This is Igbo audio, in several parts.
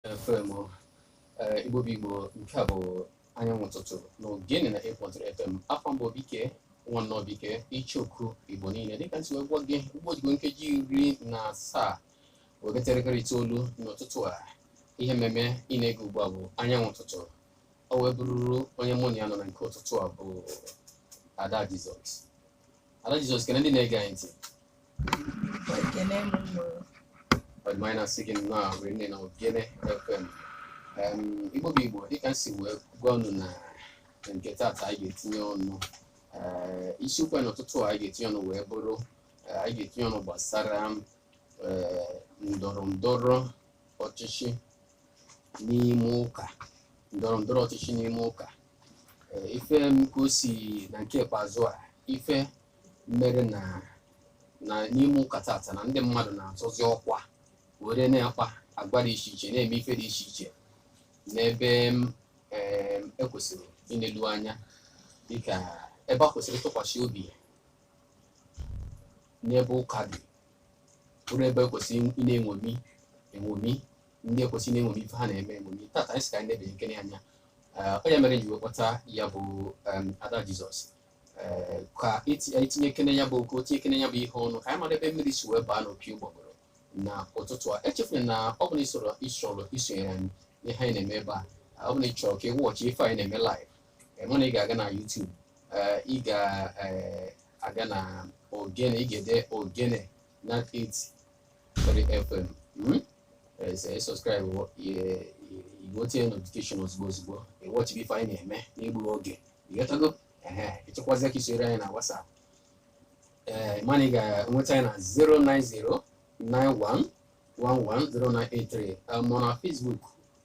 FM eh, Igbo bụ Igbo nke a bụ anyanwụ ụtụtụ na ogene 98.3 FM afa m bụ obike nwanne obike icheoku Igbo niile dịka m si wee gwa gị ugbu a ọ dịgo nkeji iri na asaa wee gafee elekere itoolu n'ụtụtụ a ihe mmemme ị na-ege ugbu a bụ anyanwụ ụtụtụ o wee bụrụrụ onye mụ na ya nọ na nke ụtụtụ a bụ Ada Jizọs Ada Jizọs kene ndị na-ege anyị ntị Ekene m unu. ọ dị mma anyị na-asị gị nnọọ a were nne na ogene fm Em, igbo bụ igbo dịka m si wee gwa unu na nke taata anyị ga-etinye ọnụ Ee, isiokwu anyị n'ụtụtụ a anyị ga-etinye ọnụ wee bụrụ ee, anyị ga-etinye ọnụ gbasara ee, ndọrọ ndọrọ ọchịchị n'ime ụka ndọrọ ndọrọ ọchịchị n'ime ụka ife m ka o si na nke ikpeazụ a ife mere na na n'ime ụka tata na ndị mmadụ na-azọzi ọkwa were na-akpa agwa dị iche iche na-eme ife dị iche iche n'ebe m em, e kwesịrị inelu anya dịka ebe e kwesịrị ịtụkwasị obi n'ebe ụka dị bụrụ ebe e kwesịrị ị na-eṅomi eṅomi ndị e kwesị na-eṅomi ife ha na-eme eṅomi tata anyị sị ka anyị nebanyekene anya Eh, ọ ya mere ji wee kpọta ya bụ em, ada jizọs Eh, ka eti- anyị tinyekene ya bụ okwu tinyekene ya bụ ihe ọnụ ka anyị mara ebe mmiri si wee baa n'opi ụgbọgụrụ na ụtụtụ a echefuna na ọ bụrụ na ị chọrọ ị chọrọ isonyere anyị n'ihe anyị na-eme ebe a ọ bụrụ na ị chọrọ ka ị watch ife anyị na-eme live eh, ma na ị ga-aga na YouTube eh, ị ga-aga na ogene ị ga-ede ogene 98 3 FM. Hmm? Eh, ị subscribe-uo ye- ye- igbo tinye notification ozugbo ozugbo ị watchibe ife anyị na-eme n'egbughị oge ị ghọtago ehe ị chọkwazie ka i soro anyị na WhatsApp ee ma na ị ga-enweta anyị na 09091110983 eh, ma na Facebook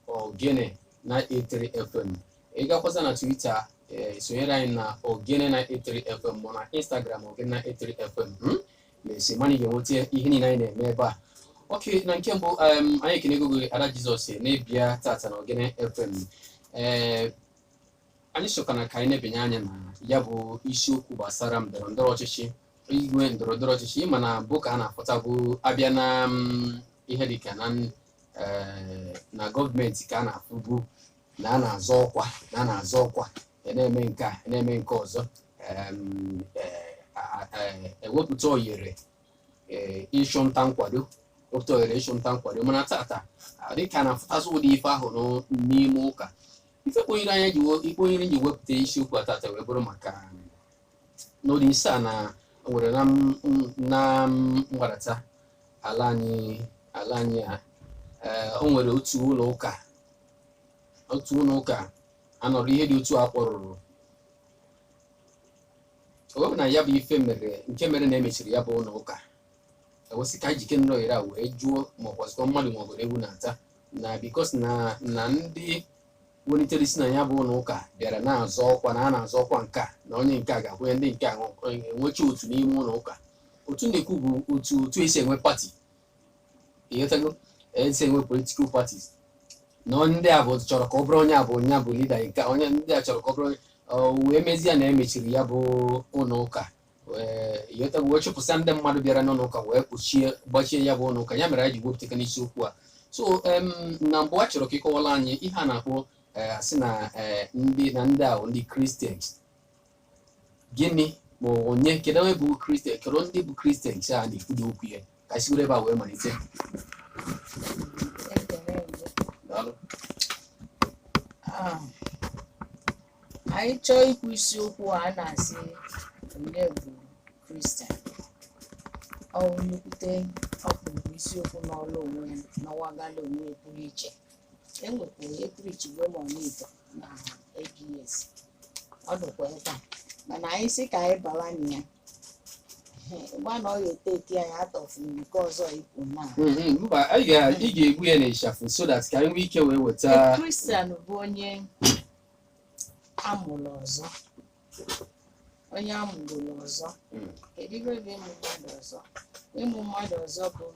Ogene 983 FM ị gakwasa na Twitter ee sonyere anyị na Ogene 983 FM ma na Instagram Ogene 983 FM hmm? na-asị ma na ị ga-enweta ihe niile anyị na-eme ebe a okay na nke mbụ em, anyị ekenego gị Ada Jizọs na ị bịa tata na Ogene FM ee anyị sịkwanụ ka anyị nebanye anya na ya bụ isiokwu gbasara ndọrọ ndọrọ ọchịchị i kwue ndọrọ ndọrọ ọchịchị ị ma na ebe a na-afụta bụ a bịa na mm, ihe dịka na eh, na gọọmenti ka a na-afụbu na a na-azọ ọkwa na a na-azọ ọkwa a na-eme nke a a na-eme nke ọzọ Em, eh, a- a- eh, e wepụta oyere eh, ịchụ nta nkwado wepụta oyere ịchụ nta nkwado mana tata ah, dịka a na-afụtazi ụdị ife ahụ n'ụ- n'ime ụka ife kwanyere anyị ji we- ife kwanyere m ji wepụta isiokwu a tata wee bụrụ maka n'ụdị ise a na nwere na m- m- na mgbadata ala anyị ala anyị a ee, o nwere otu ụlọ ụka otu ụlọ ụka anọrọ ihe dị otu a kpọrụrụ o wee bụ na ya bụ ife mere nke mere na emechiri ya bụ ụlọ ụka ewesị ka jike nrọ ire a wee jụọ ma ọ bụzikwa mmadụ ma ọ bụrụ ewu na-ata na because na na ndị welitere isi na ya bụ ụlọ ụka bịara na-azọ ọkwa na a na-azọ ọkwa nke a na onye nke a ga-akwụnye ndị nke a enwechaa otu n'ime ụlọ ụka otu na-ekwu bụ otu otu esi enwe party ị ghọtago esi enwe political parties na onye ndị a bụ chọrọ ka ọ bụrụ onye a bụ onye a bụ leader nke a, onye ndị a chọrọ ka ọ bụrụ onye o wee mezie na emechiri ya bụ ụlọ ụka ị ghọtago wee chụpụsịa ndị mmadụ bịara n'ụlọ ụka wee kpọchie gbachie ya bụ ụlọ ụka ya mere anyị ji gwepụtaka n'isiokwu a so em, na mbụ a chọrọ ka ị kọwaala anyị ihe a na-akpọ eh, a sị na eh, ndị na ndị ahụ ndị kristians gịnị ma ọ bụ onye kedu onye bụ kristian kedu ndị bụ kristians a na-ekwudo okwu ya ka anyị sigoro ebe a wee malite Daalụ. Ah, anyị chọọ ikwu isiokwu a na-asị onye bụ kristian ọ bụ nnukwute ọkpụrụkpụ isiokwu nọlụ onwe ya nọwagala onwe ya pụrụ iche enwekwuru eprichi mgbe ma ọnịta na ABS ọ dịkwa ebe a mana anyị sị ka anyị bara na ya gba na ọ ga-eteki anyị atọfu nke ọzọ ikwu na Mhm, mba anyị ga- ị ga-egbu ya n'ịchafụ so that ka anyị nwee ike wee weta kristian bụ onye a mụrụ ọzọ onye a mụrụ ọzọ Mm. kedu ife bụ ịmụ mmadụ ọzọ ịmụ mmadụ ọzọ bụ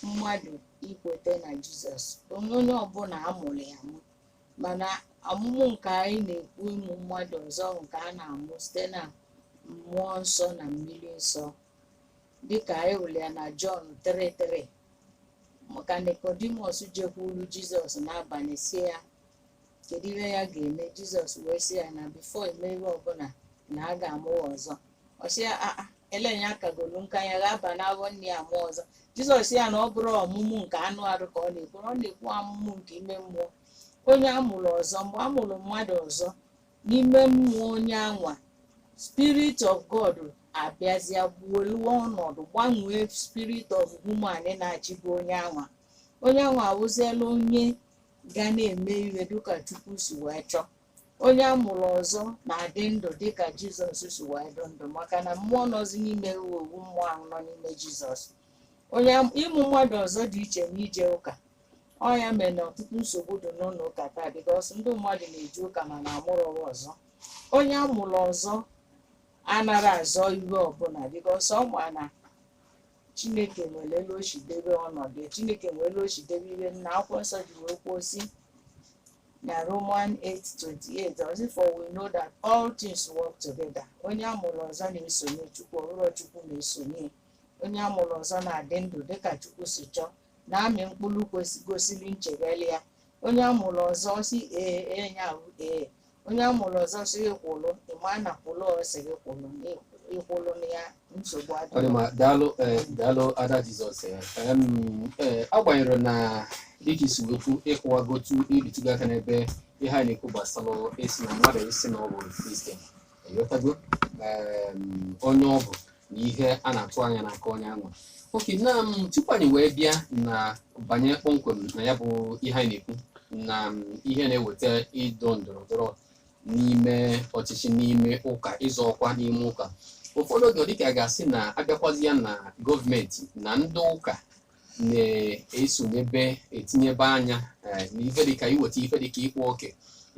mmadụ ikweta na jizọs onye onye ọbụla a mụrụ ya amụ mana amụmụ nke anyị na-ekwu ịmụ mmadụ ọzọ nke a na-amụ site na mmụọ nsọ na mmiri nsọ dịka anyị hụrụ ya na jọn 3:3 maka Nikọdimọs jekwuru Jizọs n'abalị sị ya kedu ihe ya ga-eme Jizọs wee sị ya na before e mee ihe ọbụla na a ga-amụ ya ọzọ ọ sị ya aa e lee ya akagolu nka ya ga-aba n'afọ nne ya mụọ ọzọ Jizọs sị ya na ọ bụrọ amụmụ nke anụ arụ ka ọ na-ekwu ọ na-ekwu amụmụ nke ime mmụọ onye a mụrụ ọzọ mgbe a mụrụ mmadụ ọzọ n'ime mmụọ onye anwa spirit of god abịazịa buoluwe ọnọdụ gbanwee spirit of human na-achịbụ onye anwa onye anwa awụziela onye ga na-eme ihe dịka chukwu si wee chọọ onye a mụrụ ọzọ na-adị ndụ dịka jizọs si wee dị ndụ maka na mmụọ nọzi n'ime ya wụ mmụọ ahụ nọ n'ime jizọs ịmụ mmadụ ọzọ dị iche na ije ụka ọ ya mere na ọtụtụ nsogbu dị n'ụlọ ụka taa bikos ndị mmadụ na-eje ụka mana amụrọ wa ọzọ onye amụrụ ọzọ anara azọ iwe ọbụla bikos ọ ma na chineke nwere elu o si debe ọnọdụ ya. chineke nwere elu o si debe ihe nna akwụkwọ nsọ ji wee kwuo sị na romans 8:28 ọ sị for we know that all things work together onye amụrụ ọzọ na-esonye chukwu ọhụrụ chukwu na-esonye onye amụrụ ọzọ na-adị ndụ dịka chukwu si chọọ na-amị mkpụrụ kwesị- gosiri nchegharị ya onye a mụrụ ọzọ sị ee ee ya abụ ee onye a mụrụ ọzọ sị gị kwụrụ ị ma na kwụrụ ọ sị gị kwụrụ ị- ịkwụrụ na ya nsogbu ọ dị adịghị ma daalụ eh, daalụ ada jizọs eh, em, eh, agbanyerọ na dịka i si wee kwu ị kọwago otu i bitugo aka n'ebe ihe a na-ekwu gbasara esi na mmadụ ịsị na ọ bụ kristian ịghọtago em, onye ọ bụ na ihe a na-atụ anya n'aka onye anwa okay na tupu anyị wee bịa na banye kpọmkwem na ya bụ ihe anyị na-ekwu na ihe na-eweta ịdọ ndọrọ ndọrọ n'ime ọchịchị n'ime ụka ịzọ ọkwa n'ime ụka ụfọdụ oge ọ dịka a ga-asị na abịakwazia na gọọmenti na ndị ụka na-esonyebe etinyebe anya eh, n'ife dịka iweta ife dịka ịkpa oke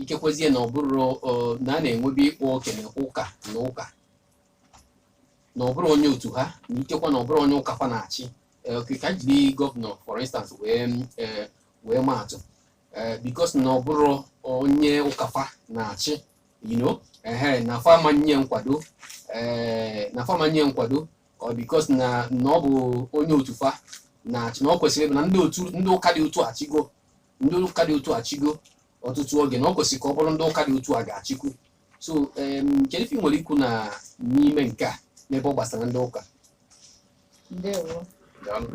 ikekwezie na ọ bụrụ eh, na a na-enwebe ịkpa oke na ụka na ụka na ọ bụrọ onye otu ha na ikekwa na ọ bụrọ onye ụka fa na-achị ka e jiri gọvanọ for instance wee wee maa atụ bikos na ọ bụrọ onye ụka fa na-achị you know ehe na fa ma nye nkwado na fa ma nye nkwado ọ bikos na na ọ bụ onye otu fa na-achị na ọ kwesịrị ịbụ na ndị otu ndị ụka dị otu a achịgo ndị ụka dị otu a achịgo ọtụtụ oge na ọ kwesịrị ka ọ bụrụ ndị ụka dị otu a ga-achịkwu so em, kedu ife ị nwere ikwu na n'ime nke a n'ebe ọ gbasara ndị ụka ndewo Daalụ.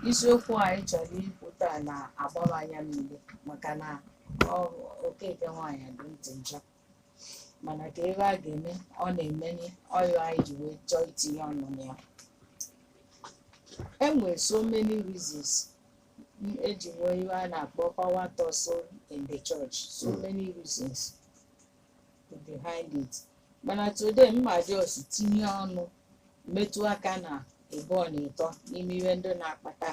isiokwu anyị chọrọ ikwu taa na-agbaba anya mmiri maka na ọ- okeke nwaanyị dị ntị njọ mana ka ebe a ga-eme ọ na-emenye ọ ya anyị ji wee chọọ itinye ọnụ na ya enwere so many reasons eji nwee iwe a na-akpọ power tussle in the church so Mm. many reasons behind it mana today m ma jos tinye ọnụ metụ aka na ịbụọ na ịtọ n'ime ihe ndị na-akpata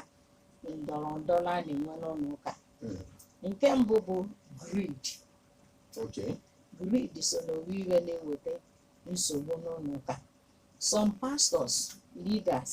ndọrọ ndọrọ a na-enwe n'ụlọ ụka Mm. nke mbụ bụ greed Okay. greed so n'owu iwe na-eweta nsogbu n'ụlọ ụka some pastors leaders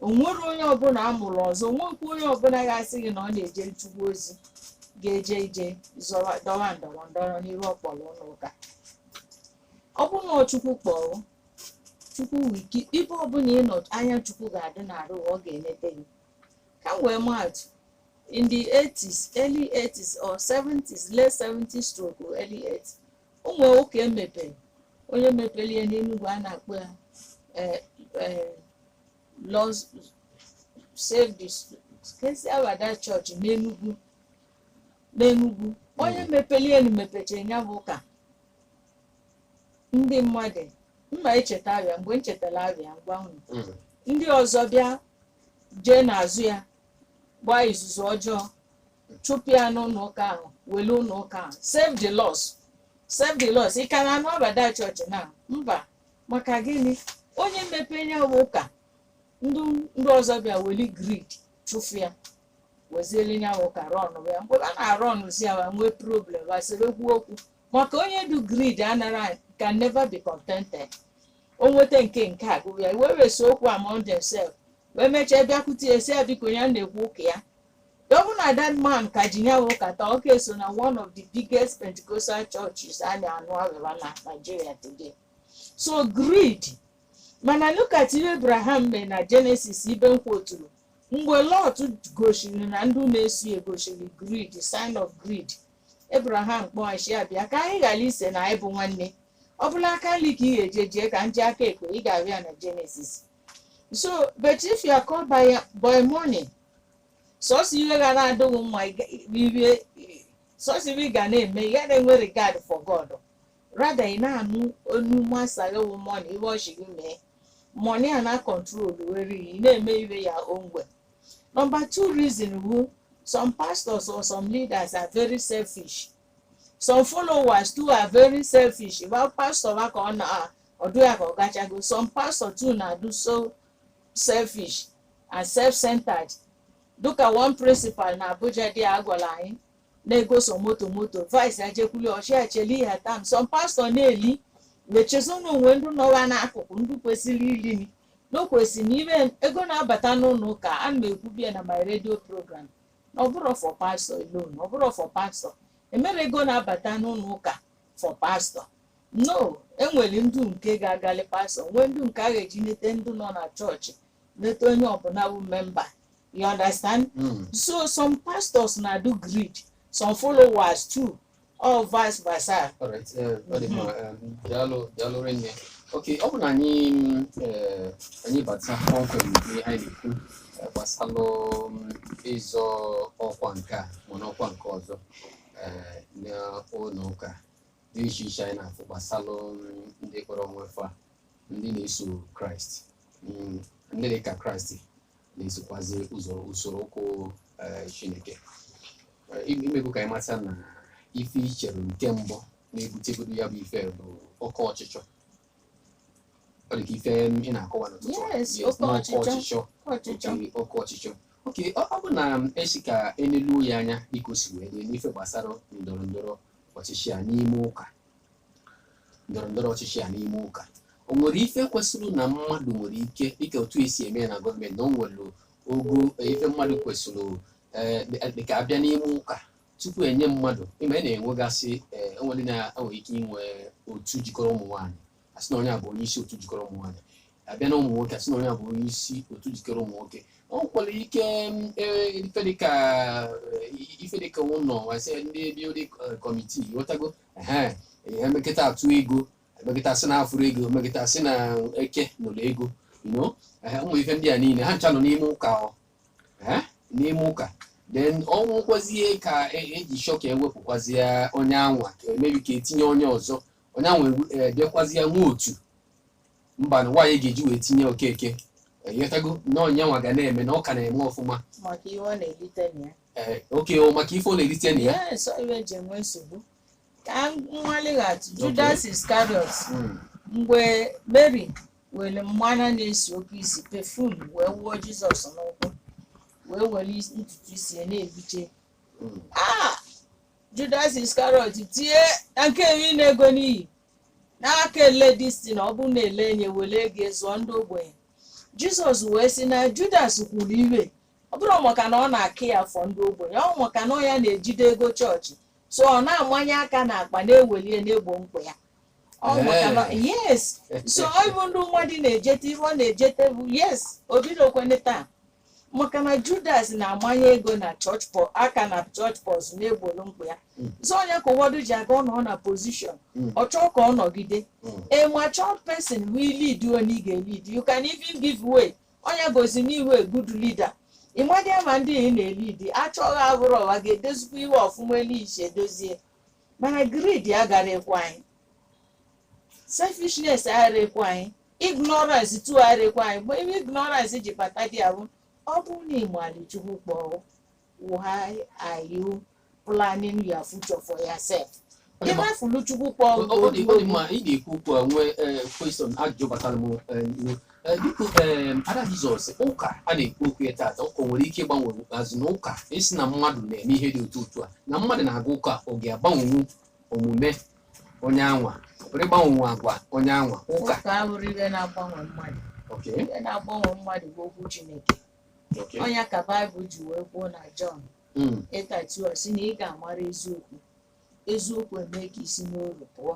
o nwere onye ọbụla a mụrụ ọzọ o nwekwa onye ọbụla ga-asị gị na ọ na-ejere chukwu ozi ga-eje ije zọwa dọwa ndọrọ ndọrọ n'iru ọkpọrọ ụlọ ụka ọ bụ na chukwu kpọrọ chukwu nwe gị ibe ọbụla ị nọ anya chukwu ga-adị n'arụ ọ ga-enete gị ka m wee maatụ in the 80s early 80s or 70s late 70s stroke early 80s o nwere ụka emepere onye mepere ya n'Enugu a na-akpọ ya eh, eh, Lord Save the kezi aha that Church n'Enugu n'Enugu onye mepere ya na mepechara ya bụ ụka ndị mmadụ m ma echeta aha ya mgbe m chetara aha ya m gwa unu Mm. ndị ọzọ bịa jee n'azụ ya gbaa izuzu ọjọọ chụpụ ya n'ụlọ ụka ahụ wele ụlọ ụka ahụ save the lost save the lost ị ka na-anụ about that church na mba maka gịnị onye mepee ya bụ ụka ndị ndị ọzọ bịa weli greed chụfụ ya weziele ya bụ ụka rọnụ ya mgbe a na-arọnụzi ya wa nwee problem wa sebekwuo okwu maka onye dụ greed anara can never be contented o nweta nke nke a gụgụ ya wa wee see okwu among themselves wee mechaa bịakwute ya sị ya biko ya na-ekwu ụka ya gọvanọ that man ka ji ya ụka taa ọ ka so na one of the biggest pentecostal churches a na-anụ aha ya na nigeria today so greed mana look at ihe abraham mee na genesis ibe m kwuturu mgbe lot gosiri na ndị na-eso ya gosiri greed sign of greed abraham kpọọ ya sị ya bịa ka anyị ghara ise na anyị bụ nwanne ọ bụlụ aka nri ka ị ga-eje jee ka m jee aka ekpe ị ga-ahụ ya na genesis so but if you are called by, by money sọsọ ihe ga na-adị gị mma ị ga- irie sọsọ ihe ị ga na-eme ị ga na-enwe regard for god rather ị na-anụ onu master ya wụ money ihe ọ sị gị mee money a na control were ị na-eme iwe ya onwe number two reason wụ some pastors or some leaders are very selfish some followers too are very selfish ịgba pastor ba ka ọ na-adụ ya ka ọ gachago some pastor too na-adụ so selfish and self-centered dịka one principal na abuja dị a gwara anyị na-egosọ moto moto vice ya jekwuli ọ sị ya cheli your time some pastor na-eli ma chezọ o nwe ndị nọ wa n'akụkụ ndị kwesịrị ili ndị o kwesịrị inye ego na-abata n'ụlọ ụka ana m ekwubu ya na my radio program ọ bụrọ for pastor alone ọ bụrọ for pastor e mere ego na-abata n'ụlọ ụka for pastor no e nwere ndụ nke ga-agali pastor nwee ndụ nke a ga-eji nete ndụ nọ na chọọchị nete onye ọbụla bụ member you understand Mm. so some pastors na-adụ greed some followers too or vice versa Alright, eh, ọ dị mma, eh, daalụ daalụ rinne ok ọ bụ na anyị mm, eh, anyị bata kpọmkwem ihe anyị na-ekwu eh, gbasalụ mm, ịzọ ọkwa nke a ma n'ọkwa nke ọzọ eh, n'ụlọ ụka dị iche iche anyị na-afụ gbasalụ mm, ndị kpọrọ onwe fa ndị na-eso kraịst mm, ndị dị ka kraịst na-esokwazi ụzọ usoro ụkwụ eh, chineke Eh, ime- imekwu ka anyị mata na ife i chere nke mbụ na-ebutegodo ya bụ ife bụ oke ọchịchọ ọ dị ka ife ị na-akọwa n'ụtụtụ a. Yes, Yes, oke na ọchịchọ. ọchịchọ ọchịchọ oke oke ọchịchọ oke ọ ọ bụ na m asị ka e leluo ya anya dịka o si wee dị n'ife gbasara ndọrọ ndọrọ ọchịchị a n'ime ụka ndọrọ ndọrọ ọchịchị a n'ime ụka o nwere ife kwesịrị na mmadụ nwere ike dịka otu e si eme ya na gọọmenti na o nwere ogo ife mmadụ kwesịrị eh, dịka a bịa n'ime ụka tupu e nye mmadụ ị ma a na-enwegasị eh, o nwere na e nwere ike inwe otu jikọrọ ụmụ nwaanyị a sị na onye a bụ onye isi otu jikọrọ ụmụ nwaanyị a bịa na ụmụ nwoke a sị na onye a bụ onye isi otu jikọrọ ụmụ nwoke o nwekwara ike mm, eh, ife dịka eh, ife dịka ụlọ wasị ndị bịa kọmitii ị ghọtago ee e mekata a tụọ ego e mekata sị na afụrọ ego e mekata sị na eke noro ego no ụmụ ife ndị a niile ha ncha nọ n'ime ụka ọ ee n'ime ụka then ọ wụrụkwazie ka e ji chọọ ka e wepụkwazie onye anwa ka emebi ka e tinye onye ọzọ onye anwa edekwazie nwa otu mba na nwaanyị ga-eji wee tinye okeke ị ghọtago na onye nwa ga na-eme na ọ ka na-eme ọfụma maka ihe ọ na-elite na ya Ee, oke o maka ife ọ na-erite na ya Yes, ọ ihe e ji enwe nsogbu ka mmalighachi Judas Iscariot Mm. mgbe Mary were mmanụ na-esi oke isi pefum wee wuo Jizọs n'ụkwụ wee were is- ntutu isi ya na-efiche Mm. Ah! Judas Iscariot tie na nke a wụ ịna ego n'iyi na a ka ele disti na ọ bụrụ na e lee nya were ego zụọ ndị ogbenye Jizọs wee sị na Judas kwuru ihe ọ bụrọ maka na ọ na-acare for ndị ogbenye ọ maka na ọ ya na-ejide ego chọọchị so ọ na-amanye aka n'akpa na-eweli na-egbo mkpa ya ọ maka na yes so ọ bụ ndị mmadụ na-ejete ihe ọ na-ejete bụ yes obidokwene taa maka na judas na-amanye ego na chọọchị pọ aka na chọọchị purse na-egboro mkpa ya Mm. so ọ nya ka ụfọdụ ji aga ọ nọ na pozishọn Mm. ọ chọọ ka ọ nọgide Mm. a matured person will lead you only ga lead you can even give way ọ nya gosi na ị wụ good leader ịmadị ama ndị ị na-elead achọghị abụrụ ọwa ga-edozikwa ihe ọfụma elu isi edozie mana greed agarọ ekwe anyị selfishness agarọ ekwe anyị ignorance too agarọ ekwe anyị mgbe ebe ignorance ji bata there bụ ọ bụrụ na ị mali chukwu kpọọ why are you planning your future for yourself Onye ma- ị rafụlụ chukwu kpọọ Ọ- ọ dị ọ dị mma ị na-ekwu okwu a nwee ee, question ajụjụ batara m ee, iwe. Ee, biko ee, ada jizọs ụka a na-ekwu okwu ya taata ụka nwere ike ịgbanwe azụ na ụka ị sị na mmadụ na-eme ihe dị otu otu a na mmadụ na-aga ụka ọ ga-agbanwenwu omume onye anwa ọ pụrụ ịgbanwenwu agwa onye anwa ụka ụka abụrọ ihe na-agbanwe mmadụ okay. ihe na-agbanwe mmadụ bụ okwu chineke Okay. ọnya ka baịbụl ji wee kwuo na jọn 8:32 si na ị ga-amara eziokwu eziokwu eme ka i si n'oru pụọ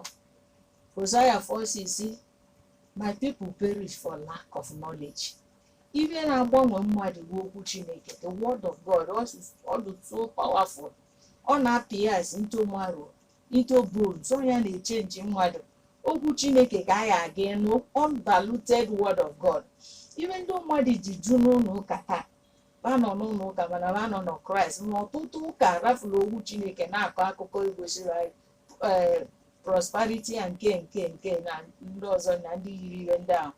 hosaya 4:6 my people perish for lack of knowledge ihe na-agbanwe mmadụ bụ okwu chineke the word of god ọ dị so powerful ọ na-apịas into marrow into bones ọ ya na-echenji mmadụ okwu chineke ka anyị aga ịnụ undiluted word of god ihe ndị mmadụ ji ju n'ụlọ ụka taa ba nọ n'ụlọ ụka mana ba anọrọ na kraịst na ọtụtụ ụka rafụrụ okwu chineke na-akọ akụkọ egosiri anyị ee prosperity ya nke nke nke na ndị ọzọ na ndị yiri ihe ndị ahụ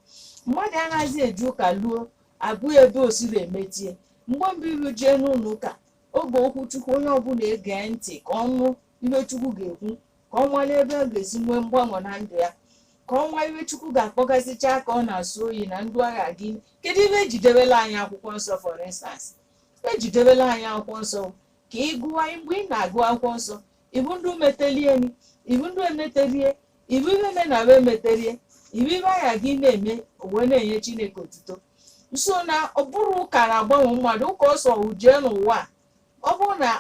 mmadụ anaghịzi eje ụka luo ọ bụ ebe o siri emetie mgbe mbụ iru jee n'ụlọ ụka oge okwu chukwu onye ọbụla egee ntị ka ọ nụ ihe chukwu ga-ekwu ka ọ nwale ebe ọ ga-esi nwee mgbanwe na ndụ ya ka ọ nwa ihe chukwu ga-akpọgasịcha aka ọ na-asọ oyi na ndụ agha gị kedu ihe e ji debela anyị akwụkwọ nsọ for instance e ji debela anyị akwụkwọ nsọ ka ị gụwa mgbe ị na-agụ akwụkwọ nsọ ị hụ ndị metelieni ị hụ ndị emetelie ị hụ ihe me na wee meterie ị hụ ihe anya gị na-eme wee na-enye chineke otuto so na ọ bụrọ ụka na-agbanwe mmadụ ụka ọ sọ ụ jee n'ụwa a. ọ bụrụ na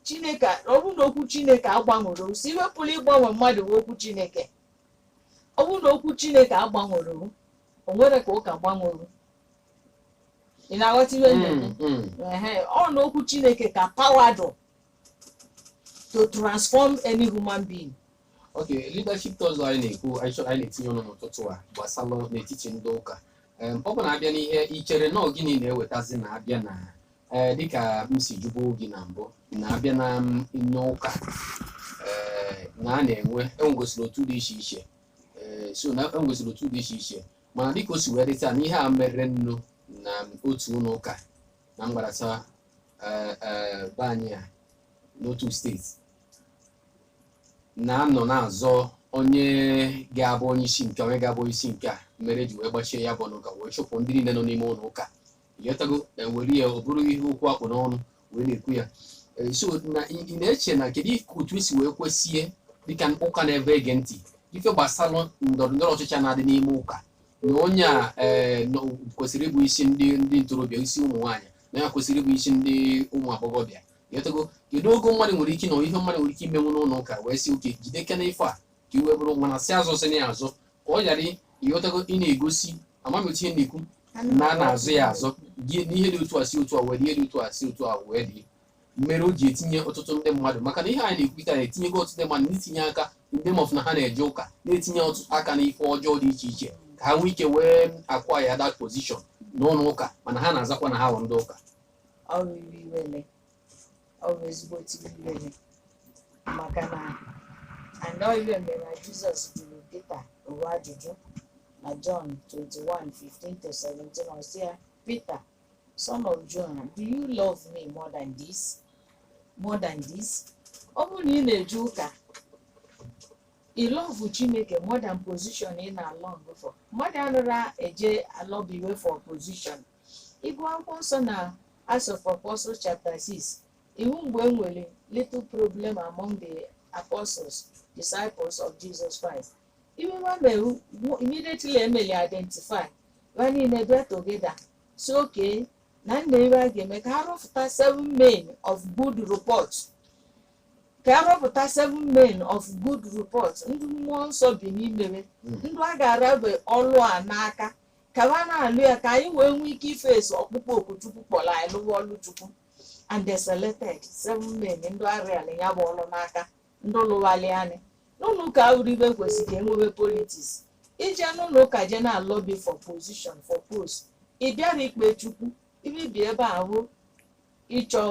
chineke ọ bụrụ na okwu chineke agbanwerọ ụ sọ ihe pụrụ ịgbanwe mmadụ bụ okwu chineke ọ bụrụ na okwu chineke agbanwerọ ụ o nwerọ ka ụka gbanwere ị na-aghọta ihe m na-eme? Mm, mm. Ehe, ọ na okwu chineke ka pawa dụ to transform any human being Okay, leadership tussle anyị na-ekwu anyị chọrọ anyị na-etinye ọnụ n'ụtụtụ a gbasara n'etiti ndị ụka Em, ọ bụ na a bịa n'ihe i chere na gịnị na-ewetazi na a bịa na eh, dịka m si jụbụ gị na mbụ na a bịa na m- n'ụka eh, na a na-enwe e nwegasịrị otu dị iche iche Eh, so na e nwegasịrị otu dị iche iche mana dịka o si wee dị taa na ihe a merenụ na otu ụlọ ụka na mgbarata eh, eh, be anyị a n'otu steeti na-anọ na-azọ onye ga-abụ onye isi nke onye ga-abụ onye isi nke a mere e ji wee gbachie ya bụ ụlọ ụka wee chụpụ ndị niile nọ n'ime ụlọ ụka ị ghọtago na e were ya ọ bụrụ ihe okwu a kpụ n'ọnụ wee na-ekwu ya Eh, so na ị ị na-eche na kedu ife otu esi wee kwesịe dịka ụka na-ebe ege ntị ife gbasara ndọrọ ndọrọ ọchịchị a na-adị n'ime ụka na onye a eh, nọ- kwesịrị ịbụ isi ndị ndị ntorobịa isi ụmụ nwaanyị na ya kwesịrị ịbụ isi ndị ụmụ agbọghọbịa ị ghọtago kedu ogo mmadụ nwere ike na ihe mmadụ nwere ike imenwu n'ụlọ ụka wee sị okay jide kena ife a ka iwe bụrụ nwa na si azọ sị na ya azọ ka ọ ghara ị ghọtago ị na-egosi amamihe na-ekwu na a na-azọ ya azọ gị n'ihe dị otu a si otu a wee dị ihe dị otu a si otu a wee dị mere o ji etinye ọtụtụ ndị mmadụ maka na ihe anyị na-ekwu taa etinyego ọtụtụ ndị mmadụ n'itinye aka ndị mọf na ha na-eje ụka na-etinye ọtụtụ aka n'ife ọjọọ dị iche iche ka ha nwee ike wee acquire that position n'ụlọ ụka mana ha na-azakwa na ha bụ ndị ụka ọ bụ iwe iwele ọ bụ ezigbo iwe iwele maka na anọ iwe mere na jizọs jụrụ pita ụwa ajụjụ na jọn 21 15 to 17 ọ sị ya pita Son of John, do you love me more than this? More than this? Ọ bụrụ na ị na-eje ụka, ị lọvụ Chineke more than position ị na-along for. Mmadụ anọrọ eje alọbiwe for position. Ị gụọ akwụkwọ nsọ na Acts of Apostles chapter 6, ị wụ mgbe e nwere little problem among the apostles, disciples of Jesus Christ. Iwe wa mewu bụ immediately emeli identify wa niile bịa together sị okay na nna iwe a ga-eme ka a rọpụta seven men of good report ka a rọpụta seven men of good report ndị mmụọ nsọ bi n'ime wa ndị a ga-arabe ọlụ a n'aka ka wa na-alụ ya ka anyị wee nwee ike face ọkpụkpọ oku chukwu kpọrọ anyị lụwa ọlụ chukwu and they selected seven men ndị arịala ya bụ ọlụ n'aka ndị lụwalị anyị n'ụlọ ụka abụrọ ebe kwesịrị ka e nwebe politics ị je n'ụlọ ụka je na-alobby for position for post ị bịara ikpe chukwu ibibi ebe ahụ ịchọ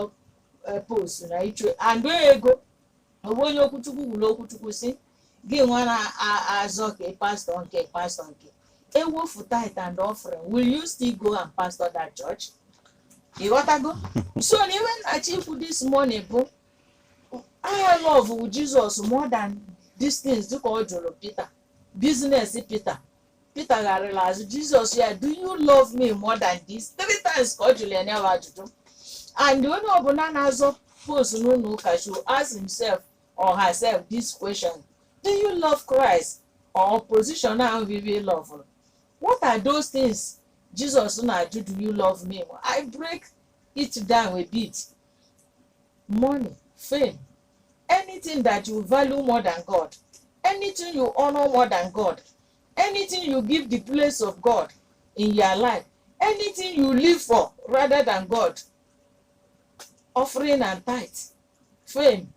eh, post na ịchọ and ego ọ bụ onye ụkọchukwu gwuru okwuchukwu sị gị nwa na-azọ ka ị pastor nke pastor nke ewofu tithe and offering will you still go and pastor that church ị ghọtago so na iwe m na-achọ ikwu this morning bụ I love Jizọs more than these things dịka ọ jụrụ Pita business Pita Pita gharịrị azụ Jizọs sị ya do you love me more than this three times ka ọ jụrụ ya nyawa ajụjụ and onye ọbụla na-azọ post n'ụlọ ụka should ask himself or herself this question do you love Christ or position ahụ vivi love what are those things Jesus na-ajụ do you love me I break it down a bit money fame anything that you value more than god anything you honor more than god anything you give the place of god in your life anything you live for rather than god offering and tithe fame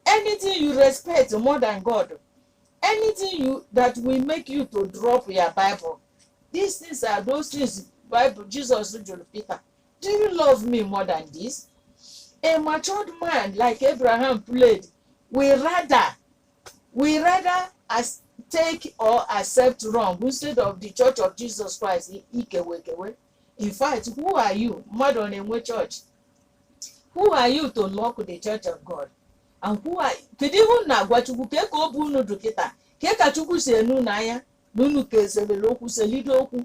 anything you respect more than god anything you that will make you to drop your bible these things are those things bible jesus jụrụ peter Do you love me more than this? A matured man like Abraham played, will rather, will rather as take or accept wrong instead of the church of Jesus Christ i- ikewekewe. In fact, who are you? Mmadụ ọ na-enwe church. Who are you to lock the church of God? And who are kedu ihe unu na-agwa Chukwu kee ka obi unu dụ kịta kee ka Chukwu si ene unu anya na unu ka eselele okwu selide okwu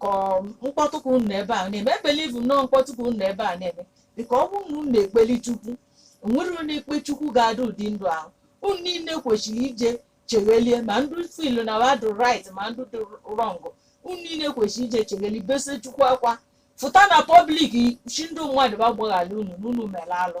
ka ọ- mkpọtụ ka unu ebe a na-eme ebelieve m na ọ mkpọtụ ka unu ebe a na-eme because ọ bụrụ na unu na-ekpeli chukwu o nwere onye na-ekpe chukwu ga-adị ụdị ndụ ahụ unu niile kwesịrị ije cheghelie ma ndụ filu na wa dụ right ma ndụ dị wrong unu niile kwesịrị ije chegheli bese chukwu akwa fụta na public shị ndị mmadụ wa gbaghalị unu na unu mere alụ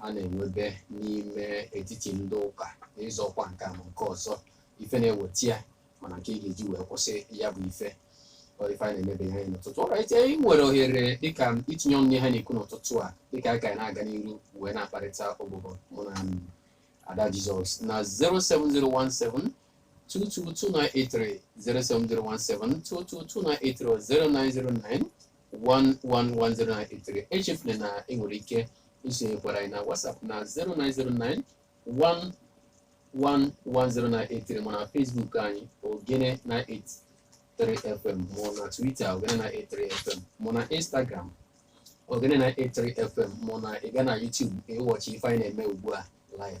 a na-enwebe n'ime etiti ndị ụka n'ịzọ ọkwa nke a ma nke ọzọ ife na-eweta ya mana nke ị ga-eji wee kwụsị ya bụ ife ọ ife a na-emebeghị anyị n'ụtụtụ alright anyị nwere ohere dịka itinye ọnụ ihe na-ekwu n'ụtụtụ a dịka anyị ka anyị na-aga n'iru wee na-akparịta ụbụbọ mụ na em, ada jizọs na 07017 222 07017 222 090 1110983 echefula na ị nwere ike isonyekwara anyị na WhatsApp na 0909 1110983 ma na Facebook anyị ogene 983 FM ma na Twitter ogene 983 FM ma na Instagram ogene 983 FM ma na ị gaa na YouTube ị watchie ife anyị na-eme ugbu a live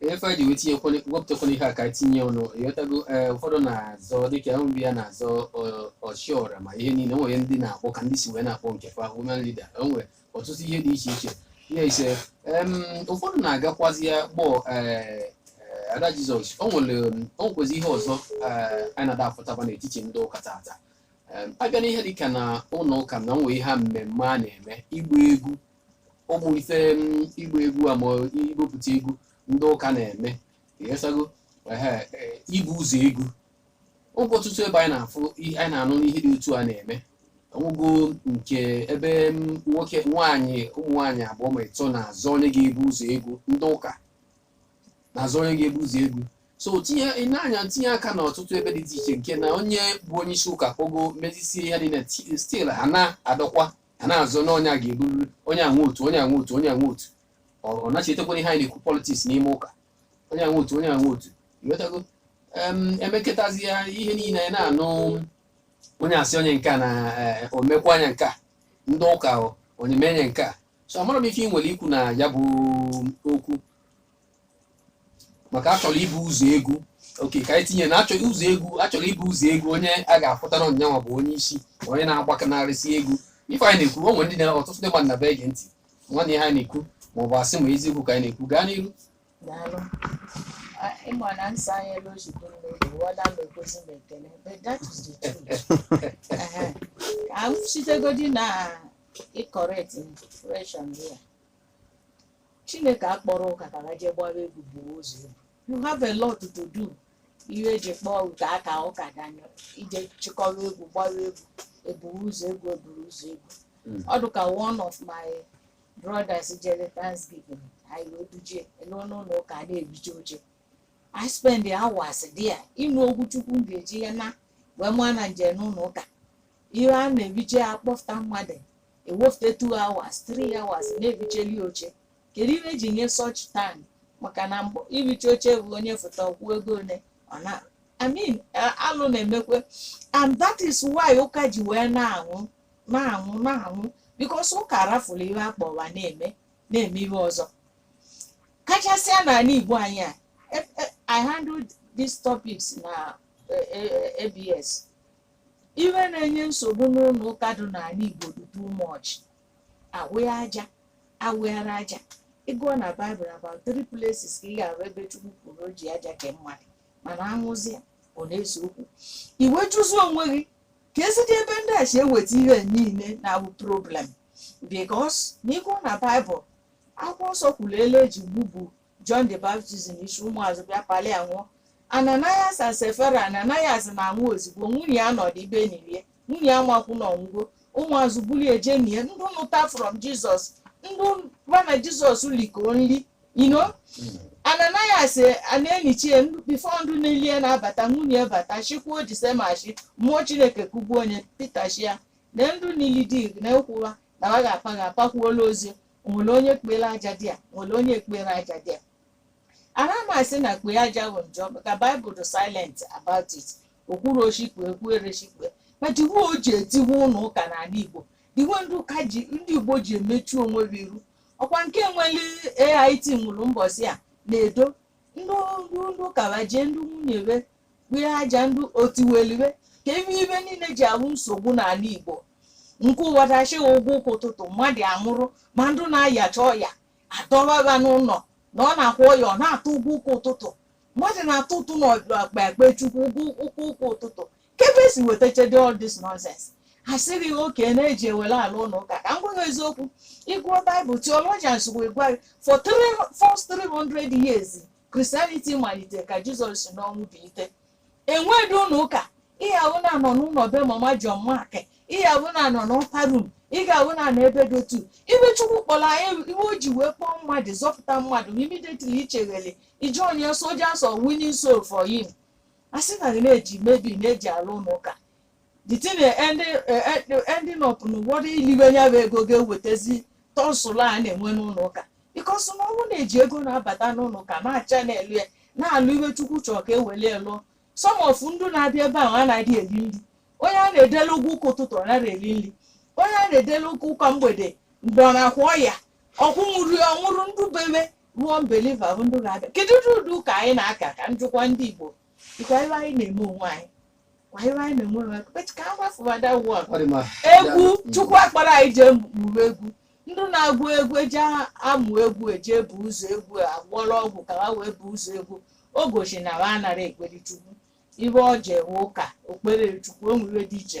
ife anyị ji wee tinye kwanye- wepụtakwana ihe a ka anyị tinye ọnụ ịghọtago ee ụfọdụ na-azọ dịka ahụ mgbe ya na-azọ ọ- ọchiọra ma ihe niile nwere ndị na-akpọ ka ndị si wee na-akpọ nke fa women leader o nwere ọtụtụ ihe dị iche iche ya ise em, ụfọdụ na-agakwazi ya kpọ ee, ee, ada jizọs o nwere em, o nwekwezi ihe ọzọ ee, anyị na-ada afụtaba n'etiti ndị ụka tata Em, a bịa n'ihe dịka na ụlọ ụka na nwee ihe a mmemme a na-eme ịgba egwu ụmụ ife ịgba egwu a ma ibupụta egwu ndị ụka na-eme ịghọtago ibu ụzọ egwu ịghọtago ọtụtụ ebe anyị na-afụ anyị na-anụ na ihe dị otu a na-eme ịghọtago nke ebe nwaanyị ụmụ nwaanyị abụọ ma ịtọ na-azọ onye ga-ebu ụzọ egwu ndị ụka na-azọ onye ga-ebu ụzọ egwu so tinye ịna-anya tinye aka na ọtụtụ ebe dị iche iche nke na onye bụ onye isi ụka kpogo mezisie ya dị na still ha na-adọkwa a na-azọ na onye a ga-eburiri onye a nwee otu onye a nwee otu onye a nwee otu ọ ọ na-echetakwara ihe anyị na-ekwu politics n'ime ụka onye a nwee otu onye a nwee otu ịghọtago Em, emekọtazi ya ihe niile anyị na-anụ onye asị onye nke a na eh, o mekwaa nya nke a ndị ụka o, onye mee onye nke a so amarọ m ife ị nwere ikwu na ya bụ okwu maka a chọrọ ibu ụzọ egwu okay ka anyị tinye na a chọ ụzọ egwu a chọrọ ibu ụzọ egwu onye a ga-afụta na nyanwa bụ onye isi ma onye na-agbakanarịsị egwu ife anyị na-ekwu o nwere ndị na ọtụtụ ndị mmadụ na-ege ntị nwanne ihe anyị na-ekwu ma ọ bụ asị ma eziokwu ka anyị na-ekwu gaa n'iru Daalụ. A- Ịma na nsọ anyị elu ozugbo n'oge wada m ekwezi m ekele but that is the truth. Ehe. Ka m sitegodi na ịcorrect impression ya. Chineke akpọrọ ụka ka ha jee gbaa egwu buru ụzọ egwu you have a lot to do ihe e ji kpọọ ụka ka ụka danyụ ije chịkọrọ egwu gbaa egwu eburu ụzọ egwu eburu ụzọ egwu Mm. ọ dụka one of my brothers jere thanksgiving anyị wee duje eluo n'ụlọ ụka a na-ebiche oche I spend hours there ịnụ okwu chukwu m ga-eji naa wee ma na m je n'ụlọ ụka ihe a na-ebiche a kpọfụta mmadụ e wefute 2 hours 3 hours na-ebicheli oche kedu ihe e ji nye such time maka na mbụ ibiche oche bụ onye fụta kwuo ego ole ọ na I mean eh, alụ na-emekwe and that is why ụka ji wee na-anwụ na-anwụ na-anwụ because ụka rafụrụ ihe a kpọ wa na-eme na-eme ihe ọzọ kachasịa n'ala Igbo anyị a e- e- I handled these topics na eh, eh, ABS Ihe na-enye nsogbu n'ụlọ ụka dị n'ala Igbo dị too much. Awụgha aja, awụghara aja. Ị gụọ na Baịbụl about three places ka ị ga-ahụ ebe Chukwu kwuru o ji aja kee mmadụ mana ahụzịa ọ na-ese okwu. I wee jụzi onwe gị keezidi ebe ndị a si eweta ihe niile na-abụ problem because na ị gụọ na Baịbụl akwụkwọ nsọ kwuru ele e ji gbubu John the Baptist n'isi ụmụazụ bịa palụ ya nwụọ Ananias and Sapphira Ananias na-anwụ ozugbo nwunye ya nọdụ ibe nilie nwunye ya nwakwụ na ọ nwụgo ụmụazụ bulie je nie ndị nụta from Jizọs ndị wa na Jizọs likọọ nri ino Ananias na-enichie before ndụ nili e na-abata nwunye bata shikwuo the same ashị mmụọ Chineke kugbuo onye Pita shị a na ndụ nili di gị nekwa wa na wa ga-apa ga-apakwulu ozu nwere onye kpere aja there o nwere onye kpere aja there ana m asị na kpee aja bụ njọ ka baịbụl dị silent about it o kwuro shị kpee o kwuro shị ekpe but iwe o ji etiwe ụlọ ụka n'ala igbo dị iwe ndị ụka ji ndị igbo ji emechu onwe ha iru ọkwa nke nwere AIT nwụrụ mbọsị a na-edo ndị ndị ndị ụka wa jee ndị nwunye we kpee aja ndụ otiweliwe kee ihe ihe niile ji abụ nsogbu n'ala igbo nke ụwa dachịghị ụgwọ ụkwụ ụtụtụ mmadụ amụrụ mmadụ na-ayacha ọya a dọwa ya n'ụlọ na ọ na-akwụ ọya ọ na-atụ ụgwọ ụkwụ ụtụtụ mmadụ na-atụ ụtụ n'ọkpa ekpe chukwu ụgwọ ụkwụ ụkwụ ụtụtụ kee ebe e si wetachadị all this nonsense a sịrị gị oke na-eji ewere ala ụlọ ụka ka m gwa gị eziokwu ị gụọ baịbụl theologians wee gwa gị for three- first 300 years Christianity malitere ka jizọs si n'ọnwụ bilite enweghị ụlọ ụka ị ga-ahụ na a nọ n'ụlọ be mama John Mark ị ga-ahụ na a nọ n'upper room ị ga-ahụ na a nọ ebe dị otu ihe chukwu kpọrọ anyị ihe o ji wee kpọọ mmadụ zọpụta mmadụ immediately i chegharị i join soldiers of winning soul for him a sị na na-eji mebi na-eji alụ ụlọ ụka the thing eh, ending eh, eh, the ending up na ụfọdụ iliwe ya bụ ego ga-ewetazi tussle a na-enwe n'ụlọ ụka because na ọnwụ na-eji ego na-abata n'ụlọ ụka na-acha na-elu ya na-alụ ife chukwu chọọ ka e weli lụọ some of ndị na-abịa ebe ahụ anaghị eri nri onye a na-edele ụgwọ ụka ụtụtụ ọ naghị eri nri onye a na-edele ụka ụka mgbede mgbe ọ na-akwụ ọya ọkwụ nwụrụ ya ọnwụrụ ndụ bebe ruo unbeliever bụ ndị na-abịa kedu ụdị ụdị ụka anyị na-aka ka m jụkwa ndị igbo Ọkwa ife anyị na-eme onwe anyị. Ọkwa ife anyị na-eme onwe anyị. But ka a gbafuwa that one. Ọ dị mma. egwu Mm. chukwu a kpọrọ anyị jee mụrụ egwu ndị na-agụ egwu eji amụ egwu eji ebu ụzọ egwu agwọrọ ọgwụ ka ha wee bu ụzọ egwu o gosi na ha anara ekpere chukwu ife o ji ewe ụka okpere chukwu o nwere ife dị iche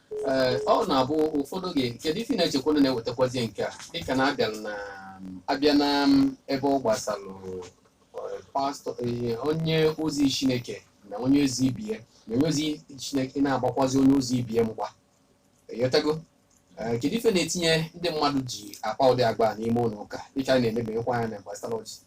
Ee, ọ na-abụ ụfọdụ oge kedu ife ị na-echekwa na na-ewetakwazi nke a dịka na abịa na abịa na ebe ọ gbasalụ eh, pastor eh, onye ozi chineke na onye ozi ibe ya na onye ozi chineke na-agbakwazi onye ozi ibe ya mgba ị ghọtago Eh, kedu ife na-etinye ndị mmadụ ji akpa ụdị agba a n'ime ụlọ ụka dịka a na-emebukwa ya n'ebe gbasara ọchị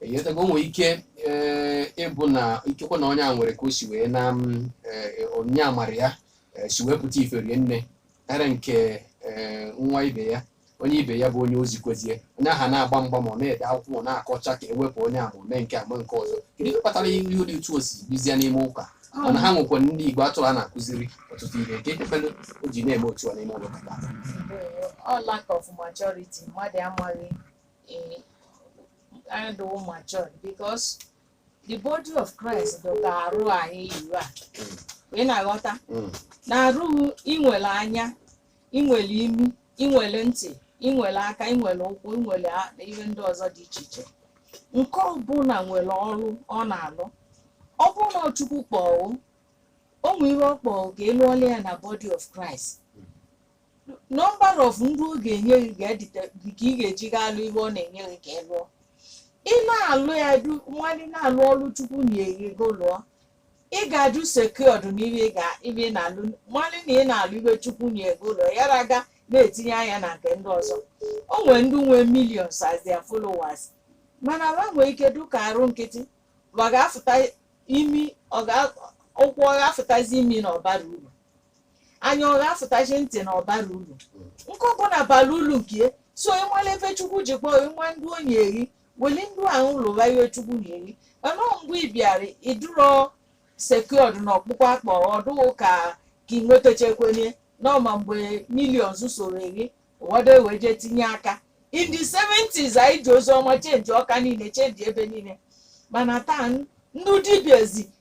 ị ghọtago nwere ike ee, ịbụ na ikekwe na onye a nwere ka o si wee na m, ee, onye amara ya ee, si wee pụta ife rie nne karịa nke ee, nwa ibe ya onye ibe ya bụ onye ozi kwezie onye ahụ na-agba mgba ma ọ na-ede akwụkwọ ma ọ na-akọcha ka ewepụ onye ahụ mee nke a ma nke ọzọ kedu ihe kpatara ihe dị otu o si bizie n'ime ụka mana ha nwekwa ndị igwe atụrụ a na-akụziri ọtụtụ ihe nke ekpefere o ji na-eme otu a n'ime ụlọ ụka taa ọ lack of maturity mmadụ amaghị ime anyị adịrọ matured because the body of Christ dụ ka arụ anyị yiwu a ị na-aghọta Mm. n'arụ gị i nwele anya i nwele imi i nwele ntị i nwele aka i nwele ụkwụ i nwele a- na ihe ndị ọzọ dị iche iche nke ọbụla nwere ọrụ ọ na-alụ ọ bụrụ na Chukwu kpọọ gị o nwee ihe ọ kpọọ ka ị lụọla ya na body of Christ number of ndị ọ ga-enye gị ga-edite gị ka ị ga-eji gaa alụ ihe ọ na-enye gị ka ị lụọ ị na-alụ ya du nwanne na-alụ ọrụ chukwu nyee gị lụọ ị ga-adị secured n'ihe ị ga- ife ị na-alụ nwanne na ị na-alụ ife chukwu nyee gị lụọ ya raga na-etinye anya na nke ndị ọzọ o nwere ndị nwee millions as their followers mana ha nwee ike dụka arụ nkịtị ọ ga-afụta imi ọ ga- ụkwụ ọ ga-afụtazi imi na ọ bara uru anya ọ ga-afụtazi ntị na ọ bara ulu nke ọbụla bara ulu nke ya so ị mala ife chukwu ji kpọọ ị ma ndị o nyeri weli ndị ahụ lụwa ihe chukwu nyeri mana ọ mgbe ị bịara ị dụrọ secured na ọkpụkpọ a kpọọ ọ dụ ka ka ị nwetachekwenye n'ọma mgbe millions sori ụfọdụ ewee jee tinye aka in the 70s anyị ji ozi ọma chenji ọka niile chenji ebe niile mana taa n- ndị dibịazi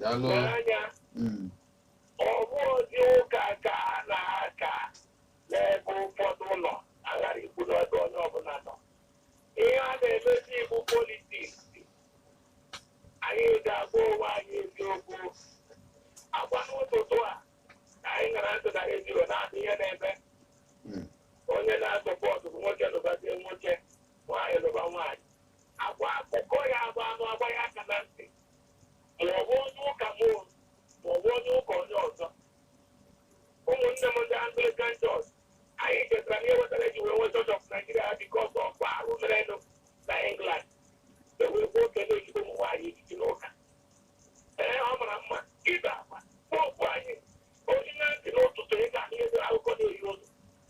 Daalụ. n'anya Mm. ọ bụ ozi ụka ka a na-aka n'ebe ụfọdụ ụlọ aghara ikwu n'ebe onye ọbụla nọ ihe a na-emezi bụ politiks anyị ga-agwa onwe anyị eziokwu ọ kwa n'ụtụtụ a na anyị gara ndụ na redio na-adị ihe na-eme Mm. onye na-asupport nwoke lụbazie nwoke nwaanyị lụba nwaanyị akọwa akụkọ ya agba alụ agba ya aka na ntị maọbụ onye ụka m o, maọbụ onye ụka onye ọzọ ụmụnne m ndị anglikan chọọchị anyị chetara na ihe wetara e ji wee nwee chọọchị ọf naijiria ha bikos ọf arụ merenụ na england e wee kwuo ka a na-echi ụmụ nwaanyị echichi n'ụka ee ọ mara mma ibe akwa kpọkpụ anyị onye na-ege ntị n'ụtụtụ ị ga-ahụ ihe dị akụkọ na-eyi ụzọ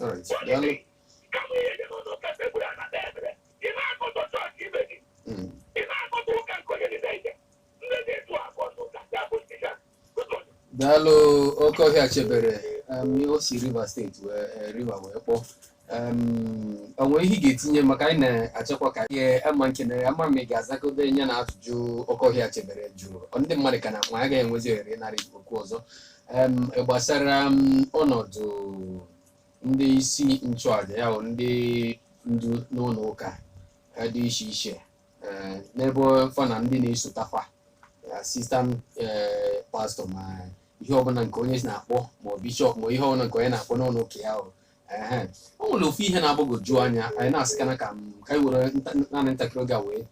All right. What do you Daalụ. mean? Ka m ihe dị n'ụlọ ụka sekpuru ala kpee ekpere. Ị na-akọtọ chọọchị ibe gị. Mm. Ị na-akọtọ ụka nke onye dị na-eje. Ndị dị etu a bụ ọnụ ụka ndị abụ ndị ya. Ụtọ dị. daalụ oke ọhịa chebere em, ihe o si rivers steeti wee eh, river wee kpọọ Em, o nwere ihe ị ga-etinye maka anyị na-achọkwa ka ihe ama nkenere ama ma ị ga-azakọbe ya na ajụjụ oke ọhịa chebere jụrụ Ọ ndị mmadụ ka na ma agaghị enwezi ohere ịnara okwu ọzọ Em, gbasara ọnọdụ ndị isi nchụaja ya bụ ndị ndu n'ụlọ ụka eh, dị iche iche eh, n'ebe fa na ndị na-esota fa asistant pastọ ma ihe ọbụla nke onye na-akpọ ma ọ bishọp ma ihe ọbụla nke onye na-akpọ n'ụlọ ụka ya o o nwere ofu ihe na-agbagwoju anya anyị na-asị kana ka ka anyị were naanị ntakịrị oge a wee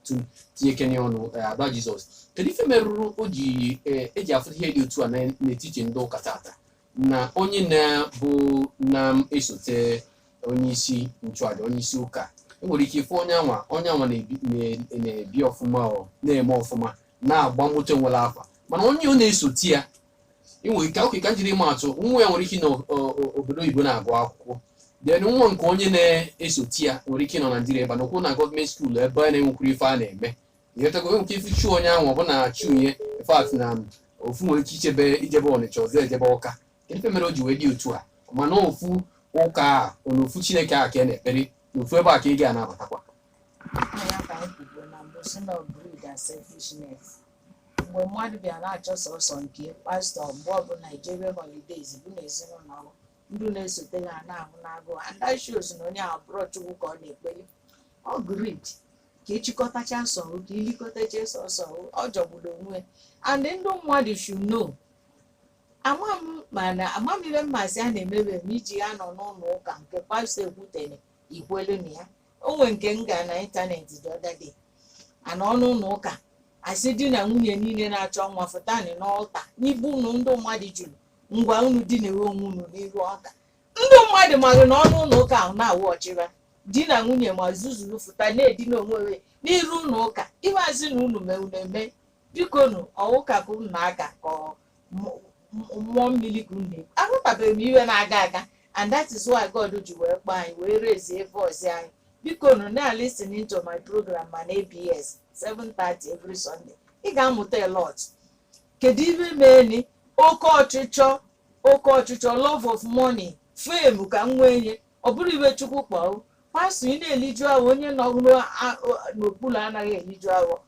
tinye kenye ọnụ ada jizọs kedu ife merụrụ o ji eji afụ ihe dị otu a n'etiti ndị ụka tata na onye na-bụ na-esote onye isi nchụaja onye isi ụka enwere ike ịfụ onye anwa onye anwa na-ebi ọfụma ọ na-eme ọfụma na-agba moto nwere afa mana onye ọ na-esote ya inwe nke oke ka m jiri maa atụ nwa ya nwere ike nọ obodo oyibo na-agụ akwụkwọ then nwa nke onye na-esote ya nwere ike nọ naijiria ebe n'okwu na gọọmenti skuul ebe a na-enwekwuru ife a na-eme ịghọtago e nwere ike ịfụ shoe onye ahụ ọ bụ na shoe ya fact na ofu nwere ike ichebe ijebe ọnịcha ọzọ ejebe ọka ife mere o ji wee dị otu a mana ofu ụka a na ofu chineke a ka a na-ekpere na ofu ebe a ka ị ga-anabatakwa Aha ya ka anyị kwubuo na mbụ si na ọ bụ selfishness mgbe mmadụ bịa na-achọ sọsọ nke pastọ mgbe ọbụla Nigerian holidays bụ na ezinụlọ ahụ ndị na-esote ha na-anwụ n'agụụ and that shows na onye ahụ ọ bụrọ Chukwu ka ọ na-ekpere ọ greed ka ịchịkọtacha sọhụ ka ilikọtacha sọsọ ọ jọgburu onwe and ndị mmadụ should know ama m mana ama m ihe mmasị a na-emebe m iji ya nọ n'ụlọ ụka nke pastọ ekwutere ikwelu na ya o nwee nke m gara na ịntanetị the other day a nọ n'ụlọ ụka asị di na nwunye niile na-achọ nwa fụtanị n'ọlta n'ibu unu ndị mmadụ juru ngwa unu dinawe onwe unu n'iru ọlta ndị mmadụ maghị na ọnụ ụlọ ụka ahụ na-awụ ọchịra di na nwunye ma zuzuru fụta na-edina onwe onwe n'iru ụlọ ụka ihe a sị na unu mee unu eme biko nu ọ wụ ụka ka unu na-aka ka ọ mmụọ mmiri ka unu na-ekwu ahụtabeghị m ihe na-aga aga and that is why God ji wee kpọọ anyị wee rezie voice anyị biko nụ na listen to my program ma na ABS 7:30 every Sunday ị ga-amụta a lot kedu ihe meeni oke ọchịchọ oke ọchịchọ love of money fame ka m nwee nye ọ bụrụ iwe chukwu kpọọ pastọ ị na-eliju afọ onye nọ n'okpuru anaghị eliju afọ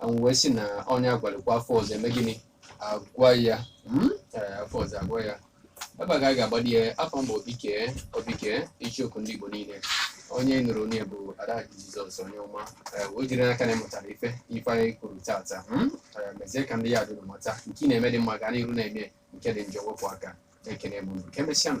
anwụ wee sị na onye agwalikwa afọ ọzọ eme gịnị agwa ya mm? Ee, afọ ọzọ agwa ya ebe a ka a ga-agbadi ya afọ mbụ obike obike icheoku ndị igbo niile onye nụrụ onye bụ ada jizọs onye ọma Ee, ejiri m n'aka na ịmụtara ife ife anyị kwuru tata mm? Ee, mezie ka ndị ya dụrụ mata nke ị na-eme dị mma gaa n'iru na-eme nke dị njọ wepụ aka ekene m unu ka emesịa nụ.